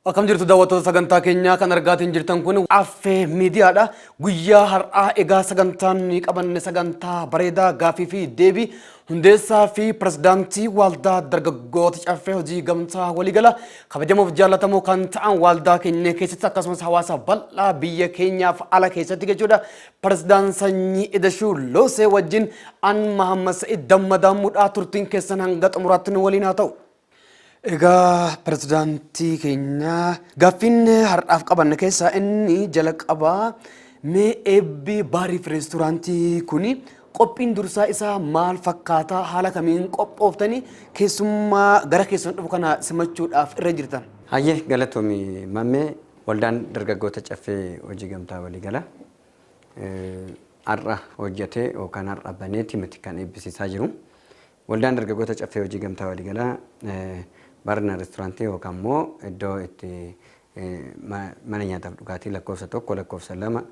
Akkam jirtu daawwattoota sagantaa keenyaa kan argaatiin jirtan kun affee miidiyaadha. Guyyaa har'aa egaa sagantaan nuyi qabanne sagantaa bareedaa gaafii fi deebii hundeessaa fi pirezidaantii waaldaa dargaggoota caffee hojii gamtaa waliigala kabajamoof jaallatamoo kan ta'an waaldaa keenya keessatti akkasumas hawaasa bal'aa biyya keenyaaf ala keessatti jechuudha. Pirezdaan Sanyii Idashuu Loosee wajjin an Mahammad Sa'id Dammadaamuudhaa turtiin keessan hanga xumuraatti nu waliin haa ta'u. Egaa pirezidaantii keenya gaaffiin har'aaf qabanne keessaa inni jalqabaa mee eebbi baariif reesturaantii kuni qophiin dursaa isaa maal fakkaataa haala kamiin qophooftanii keessummaa gara keessan dhufu kana simachuudhaaf irra jirtan. Hayyee galatomi mammee Waldaan Dargaggoota Caffee Hojii Gamtaa Waliigalaa har'a hojjetee yookaan har'a baneeti miti kan eebbisiisaa jiru. Waldaan Dargaggoota Caffee Hojii Gamtaa Waliigalaa barna reesturaantii yookaan immoo iddoo itti mana nyaataaf dhugaatii lakkoofsa tokko lakkoofsa lama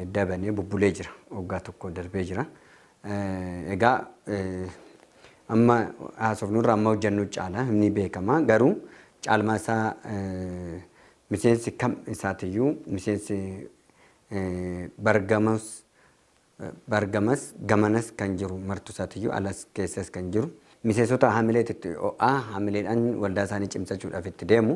edda banee bubbulee jira. Waggaa tokko darbee jira. Egaa amma haasofnurra amma hojjannu caala ni beekama garuu caalmaa isaa miseensi kam isaatiyyuu miseensi bargamas bargamas gamanas kan jiru martu isaatiyyuu alas keessas kan jiru Miseensota hamilee xitti o'aa hamileedhaan waldaa isaanii cimsachuudhaaf itti deemu.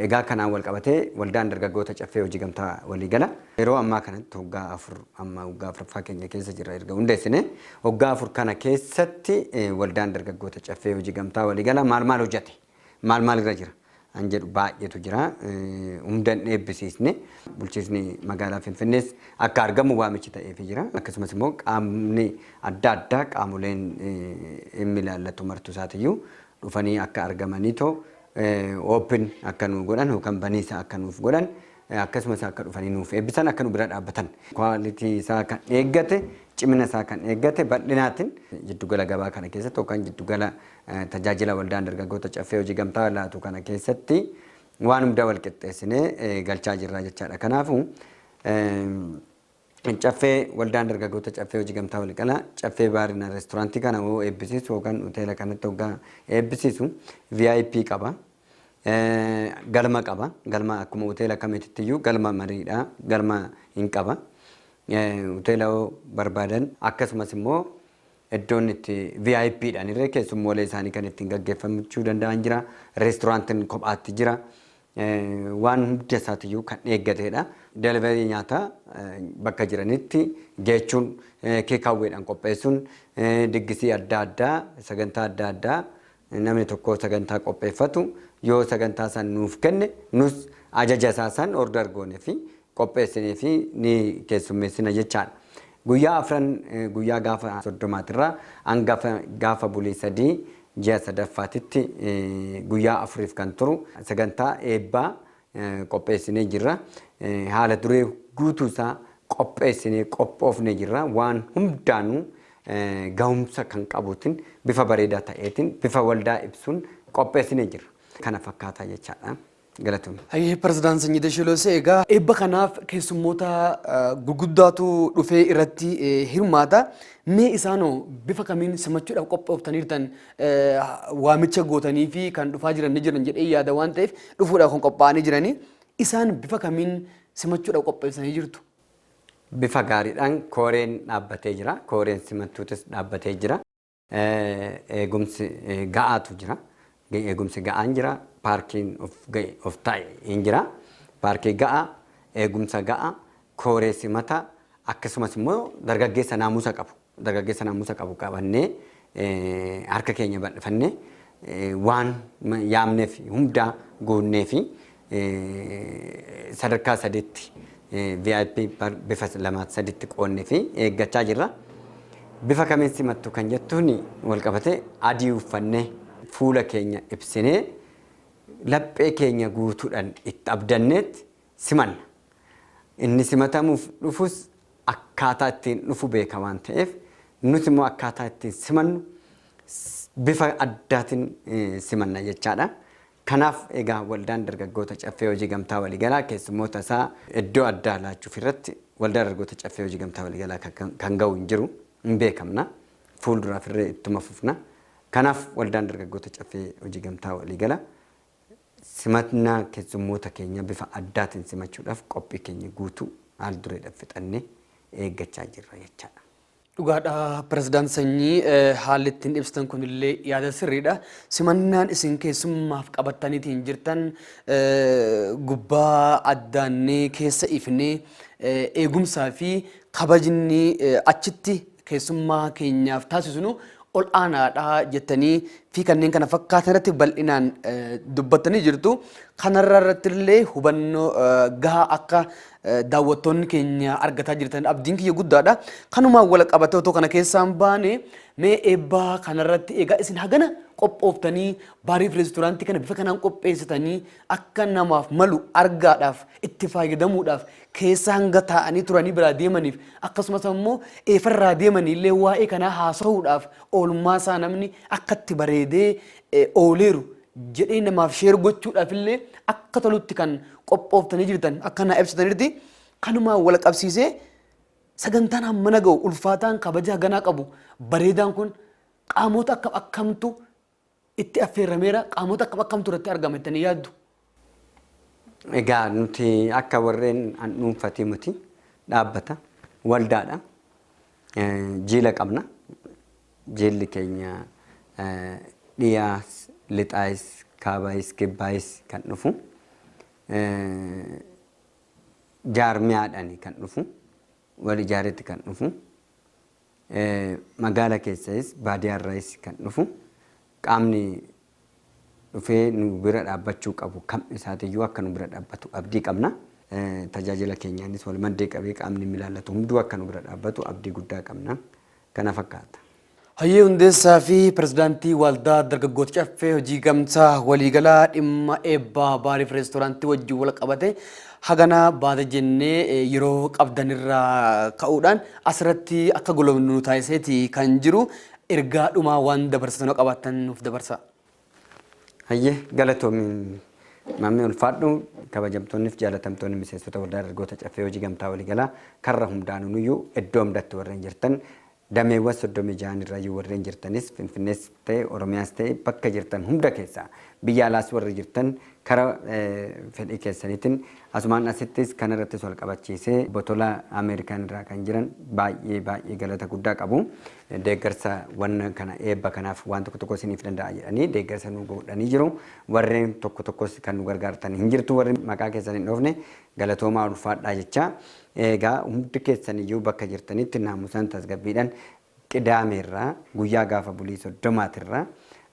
Egaa kanaan walqabatee waldaan dargaggoota Caffee Hojii Gamtaa Waliigala yeroo ammaa kanatti waggaa afur amma waggaa afraffaa keenya keessa jirra erga hundeessine. Waggaa afur kana keessatti waldaan dargaggoota Caffee Hojii Gamtaa Waliigala maal maal hojjate? Maal maal irra jira an jedhu baay'eetu jira. Hundan eebbisiisne bulchiisni magaalaa Finfinnees akka argamu waamichi ta'eefi jira. Akkasumas immoo qaamni adda addaa qaamoleen dhimmi ilaallatu martu isaatiyyuu dhufanii akka argamanii too oopin akka nuu godhan yookaan baniisa akka nuuf godhan akkasumas akka dhufanii nuuf eebbisan akka nu bira dhaabbatan kwaalitii isaa kan eeggate cimina isaa kan eeggate bal'inaatiin jiddugala gabaa kana keessatti yookaan jiddugala Tajaajila Waldaan Dargaggoota Caffee Hojii Gamtaa laatu kana keessatti waan hunda wal qixxeessinee galchaa jirra jechaadha. Kanaafuu Caffee Waldaan Dargaggoota Caffee Hojii Gamtaa Waliiqala Caffee Baarina Reestooraantii kana hoo eebbisiisu yookaan hoteela kanatti hoggaa eebbisiisu VIP qaba. Galma qaba. Galma akkuma hoteela kamiititti iyyuu galma mariidha. Galma hin qaba. Hoteela hoo barbaadan akkasumas immoo Eddoon itti vip dhaan irree keessummoolee isaanii kan ittiin gaggeeffachuu danda'an jira. Reestooraantiin kophaatti jira. Waan hunda isaatiyyuu kan eeggateedha. Delivery nyaataa bakka jiranitti geechuun, keekaawweedhaan qopheessuun, diggisii adda addaa, sagantaa adda addaa Namni tokko sagantaa qopheeffatu yoo sagantaa san nuuf kenne nus ajaja isaa san order goone fi qopheessinee fi ni keessummeessina jechaadha. Guyyaa afran guyyaa gaafa soddomaatirraa hanga gaafa bulii sadii ji'a sadaffaatitti guyyaa afuriif kan turu sagantaa eebbaa qopheessinee jirra. Haala duree guutuu isaa qopheessinee qophoofnee jirra. Waan hundaanuu gahumsa kan qabuutiin bifa bareedaa ta'eetiin bifa waldaa ibsuun qopheessinee jirra. Kana fakkaataa jechaadha. Galatoomi. Hayyee Pirezidaant Sanyii Dashiloosee egaa eebba kanaaf keessummoota gurguddaatu dhufee irratti hirmaata. Mee isaanoo bifa kamiin simachuudhaaf qophooftaniirtan? waamicha gootaniifii kan dhufaa jiran ni jiran jedhee yaada waan ta'eef dhufuudhaaf kan qophaa'anii jiranii isaan bifa kamiin simachuudhaaf qopheessanii jirtu? Bifa gaariidhaan kooreen dhaabbatee jira. Kooreen simachuutis dhaabbatee jira. Eegumsi ga'aatu jira. Eegumsi ga'aan jira. Paarkiin of ga'e of taa'e hin jira. Paarkii ga'aa, eegumsa ga'aa, kooree simataa akkasumas immoo dargaggeessa naamusa qabu. Dargaggeessa naamusa qabu qabannee harka keenya bal'ifannee waan yaamneef hundaa guunneefi sadarkaa sadiitti VIP bar bifa lamaatti sadiitti qoonneefi eeggachaa jirra. Bifa kamiin simattu kan jettuun walqabatee adii uffannee fuula keenya ibsinee laphee keenya guutuudhaan itti abdanneetti simanna. Inni simatamuuf dhufus akkaataa ittiin dhufu beeka waan ta'eef nuti immoo akkaataa ittiin simannu bifa addaatiin simanna jechaadha. Kanaaf egaa waldaan dargaggoota caffee hojii gamtaa waliigalaa keessummoota isaa iddoo addaa laachuuf irratti waldaa dargaggoota caffee hojii gamtaa waliigalaa kan ga'u hin jiru hin beekamna. Fuulduraaf irree ittuma fufna. Kanaaf waldaan dargaggoota caffee hojii gamtaa waliigalaa Simannaa kessummoota keenyaa bifa addaatiin simachuudhaaf qophii keenya guutuu haal dureedhaan fixannee eeggachaa jirra jechaadha. Dhugaadha Pirezidaant Sanyii, haalli ittiin ibsitan kunillee yaada sirriidha. Simannaan isin keessummaaf qabattaniitiin jirtan gubbaa addaannee keessa ifnee eegumsaa fi kabajni achitti keessummaa keenyaaf taasisnu ol aanaadha jettanii fi kanneen kana fakkaatan irratti bal'inaan dubbattanii jirtu. Kanarra irratti illee hubannoo gahaa akka daawwattoonni keenya argataa jirtan abdiin kiyya guddaadha. Kanumaan wal qabatee otoo kana keessaan baane mee eebbaa kanarratti egaa isin hagana qophooftanii baariif reesturaantii kana bifa kanaan qopheessitanii akka namaaf malu argaadhaaf itti fayyadamuudhaaf keessa hanga taa'anii turanii biraa deemaniif akkasumas ammoo eefarraa deemanii illee waa'ee kanaa haasa'uudhaaf oolmaa isaa namni akka itti bareedee eh, ooleeru jedhee namaaf sheer gochuudhaaf illee akka tolutti kan qophooftanii jirtan akka naa ibsitanitti kanumaan wal qabsiisee sagantaan hammana ga'u ulfaataan kabaja haganaa qabu bareedaan kun qaamota akkam akkamtu itti affeerrameera qaamota akkam akkamtu irratti argama jettanii yaaddu? Egaa nuti akka warreen an dhuunfati miti dhaabbata waldaadha Eh, jiila qabna jiilli keenya eh, dhiyaas lixaayis kaabaayis kibbaayis kan dhufu Eh, jaarmiyaadhani kan dhufu wal ijaaretti kan dhufu Magaala keessayis baadiyaarrayis kan dhufu qaamni dhufee nu bira dhaabbachuu qabu kam isaatiyyuu akka nu bira dhaabbatu abdii qabna. Tajaajila keenyaanis walmaddii qabee qaamni dhimmi ilaallatu hunduu akka nu bira dhaabbatu abdii guddaa qabna. Kana fakkaata. Hayyee Hundeessaa fi Pirezidaantii Waaldaa Dargaggoota Caffee Hojii Gamtaa Waliigalaa dhimma eebbaa Baariif Reestooraantii wajjin walqabate Hagana baata jennee yeroo qabdan irraa ka'uudhaan asirratti akka golobnu nu taasiseeti kan jiru. Ergaa dhumaa waan dabarsitan yoo qabaattan nuuf dabarsaa. Hayyee galatoomi mammee ulfaadhu kabajamtoonniif jaalatamtoonni miseensota waldaa dargaggoota caffee hojii gamtaa waliigalaa karra hundaanuu nuyyuu iddoo hundatti warreen jirtan Dameewwan 36n irrayyuu warreen jirtanis Finfinnees ta'e Oromiyaas ta'e bakka jirtan hunda keessaa biyya alaas warri jirtan kara fedhii keessaniitin asumaan asittis kanarrattis wal qabachiisee Obbo Tolaa Ameerikaan irraa kan jiran baay'ee baay'ee galata guddaa qabu. Deeggarsa wanna kana eebba kanaaf waan tokko tokko isiniif danda'a jedhanii deeggarsa nu godhanii jiru. Warreen tokko tokkos kan nu gargaartan hin jirtu warri maqaa keessan hin dhoofne Galatoomaa ulfaadhaa jechaa eegaa hundi keessan iyyuu bakka jirtanitti naamusaan tasgabbiidhan qidaamee irraa guyyaa gaafa bulii soddomaati irraa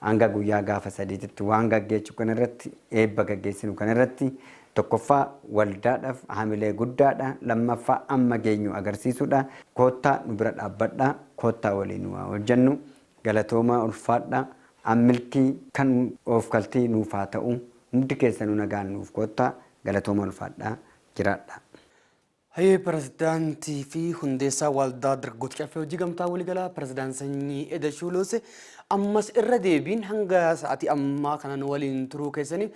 hanga guyyaa gaafa sadiititti waan gaggeechu kana irratti eebba gaggeessinu kana irratti tokkoffaa waldaadhaf hamilee guddaadha lammaffaa amma geenyu agarsiisudha koottaa nu bira dhaabbadha koottaa waliin waa hojjannu galatoomaa ulfaadha ammilkii kan oofkaltii nuuf haa ta'u hundi keessanu nagaan nuuf koottaa Galatoomaa ulfaadhaa jiraadhaa. Hayyee Pirezidaantii fi Hundeessaa Waaldaa Dargaggoota Caffee Hojii Gamtaa Waliigalaa Pirezidaant Sanyii Edashuu Luusee ammas irra deebiin hanga sa'aatii ammaa kana nu waliin turuu keessaniif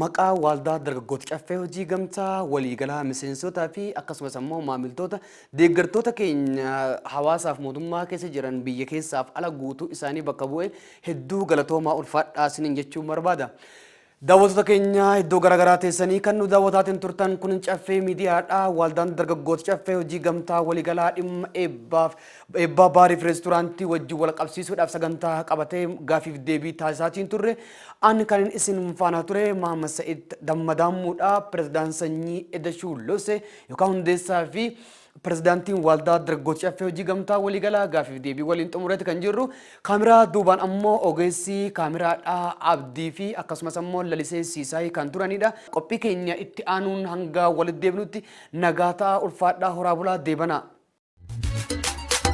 maqaa Waaldaa Dargaggoota Caffee Hojii Gamtaa Waliigalaa miseensootaa fi akkasumas ammoo maamiltoota deeggartoota keenya hawaasaaf mootummaa keessa jiran biyya keessaaf ala guutuu isaanii bakka bu'ee hedduu galatoomaa ulfaadhaa isiniin jechuun barbaada. Daawwattoota keenya iddoo garaagaraa teessanii kan nu daawwataatiin turtan kun caffee miidiyaadha. Waaldaan dargaggoota caffee hojii gamtaa waliigalaa dhimma eebbaaf eebbaa baariif reesturaantii wajjin wal qabsiisuudhaaf sagantaa qabatee gaafiif deebii taasisaatiin turre. Ani kanin isin faana ture Maamad Sa'id Dammadaamuudha. Pireezidaan Sanyii Edashuu Lose yookaan hundeessaa fi Pirezidaantiin Waaldaa Dargaggoota Caffee Hojii Gamtaa Waliigalaa gaafiif deebii waliin xumureeti kan jirru. Kaameraa duubaan ammoo ogeessi kaameraadhaa Abdii fi akkasumas ammoo Lalisee Siisaay kan turanidha. Qophii keenya itti aanuun hanga walitti deebinutti nagaa ta'aa ulfaadhaa horaa bulaa deebanaa.